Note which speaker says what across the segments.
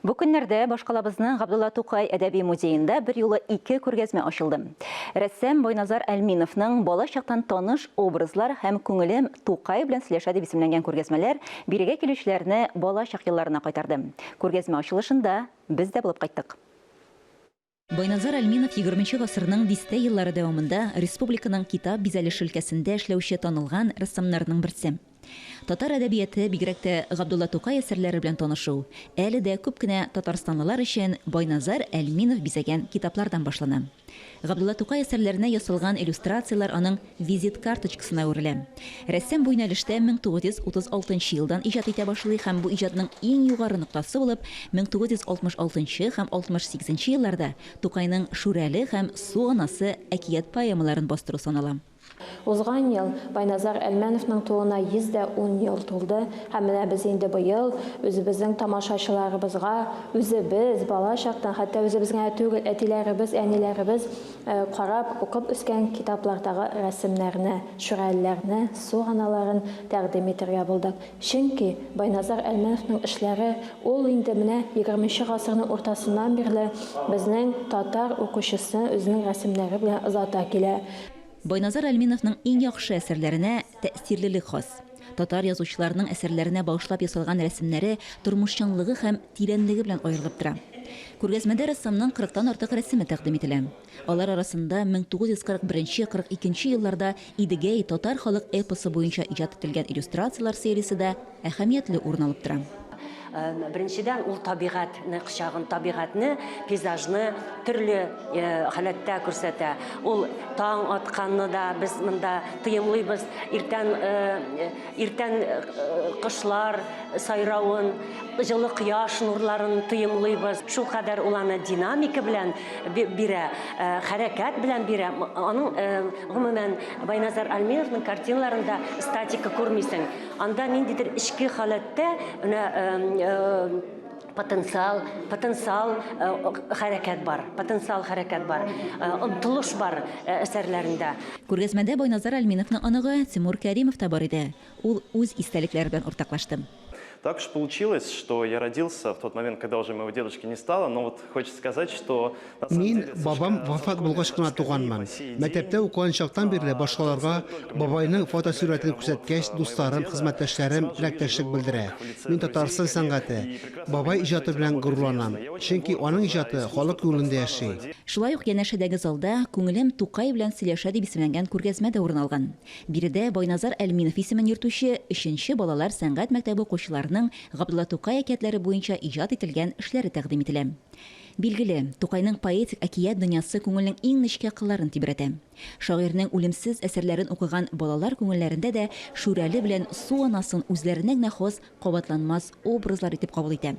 Speaker 1: Бу көннәрдә башкалабызның Габдулла Тукай әдәби музеенда берьюлы ике күргәзмә ачылды. Рәссам Байназар Әлминовның Бала чактан таныш образлар һәм Күңелем Тукай белән сөйләшә дип исемләнгән күргәзмәләр бирегә килүчеләрне балачак елларына кайтарды. Күргәзмә ачылышында без дә булып кайттык. Байназар Әлминов егерменче гасырның дистә еллары дәвамында республиканың китап бизәлеше өлкәсендә эшләүче танылган рәссамнарның берсе. Татар әдәбияты, бигрәк тә Габдулла Тукай әсәрләре белән танышу әле дә күп кенә татарстанлылар өчен Байназар Әлминов бизәгән китаплардан башлана. Габдулла Тукай әсәрләренә ясалган иллюстрацияләр аның Визит карточкасына әверелә. Рәссам бу юнәлештә 1936 нчы елдан иҗат итә башлый һәм бу иҗатның иң югары ноктасы булып 1966 нчы һәм 68 нче елларда Тукайның Шүрәле һәм Су анасы әкият-поэмаларын бастыру санала. Узган
Speaker 2: ел Байназар Әлмәновның тууына 110 ел тулды һәм менә без инде быел үзебезнең тамашачыларыбызга, үзебез, бала чактан, хәтта үзебез генә түгел, әтиләребез, әниләребез, Карап, укып үскән китаплардагы рәсемнәрне, шүрәлеләрне, су аналарын тәкъдим итәргә булдык. Чөнки Байназар Әлмәновның эшләре, ул инде менә егерменче гасырның уртасыннан бирле безнең татар укучысны үзенең рәсемнәре белән озата килә. Байназар
Speaker 1: Әлминовның иң яхшы әсәрләренә тәэсирлелек хас. Татар язучыларының әсәрләренә багышлап ясалган рәсемнәре тормыш чынлыгы һәм тирәнлеге белән аерылып тора. Күргәзмәдә рәссамның кырыктан артык рәсеме тәкъдим ителә. Алар арасында 1941-42 елларда Идегәй татар халык эпосы буенча иҗат ителгән иллюстрацияләр сериясе дә әһәмиятле урын алып тора. Беренчедән,
Speaker 3: ул табигать не кочагын, табигатьне, пейзажны төрле халәттә күрсәтә. Ул таң атканны да без монда тоемлыйбыз. Иртән Иртән кошлар сайравын, җылы кояш нурларын тоемлыйбыз. Шул кадәр ул аны динамика белән бирә, хәрәкәт белән бирә. Аның гомумән Байназар Альминовның картиналарында статика күрмисең. Анда ниндидер эчке халәттә, менә потенциал потенциал э, хәрәкәт бар потенциал хәрәкәт бар э, омтылыш бар э, әсәрләрендә күргәзмәдә
Speaker 1: байназар әлминовның оныгы тимур кәримов та бар иде ул үз истәлекләре белән уртаклашты Так уж
Speaker 4: получилось, что я родился в тот момент, когда уже моего дедушки не стало, но вот хочется сказать, что Мин бабам
Speaker 5: вафат булгач кына туганмын. Мәктәптә укыган чактан бирле башкаларга бабайның фотосурәтен күрсәткәч, дусларым, хезмәттәшләрем теләктәшлек белдерә. Мин Татарстан сәнгате, бабай иҗаты белән горурланам. Чөнки аның иҗаты халык күңелендә яши. Шулай ук янәшәдәге
Speaker 1: залда Күңелем Тукай белән сөйләшә дип исемләнгән күргәзмә дә урын алган. Биредә Байназар Әлминов исемен йөртүче өченче балалар сәнгать мәктәбе укучыларының Габдулла Тукай әкиятләре буенча иҗат ителгән эшләре тәкъдим ителә. Билгеле, Тукайның поэтик әкият дөньясы күңелнең иң нечкә кылларын тибрәтә. Шагыйрьнең үлемсез әсәрләрен укыган балалар күңелләрендә дә Шүрәле белән Су анасын үзләренә генә хас кабатланмас образлар итеп кабул итә.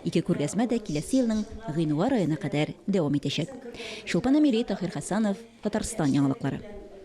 Speaker 1: Ике күргәзмә дә киләсе елның гыйнвар аена кадәр дәвам итәчәк. Чулпан Әмири, Таһир Хәсанов, Татарстан яңалыклары.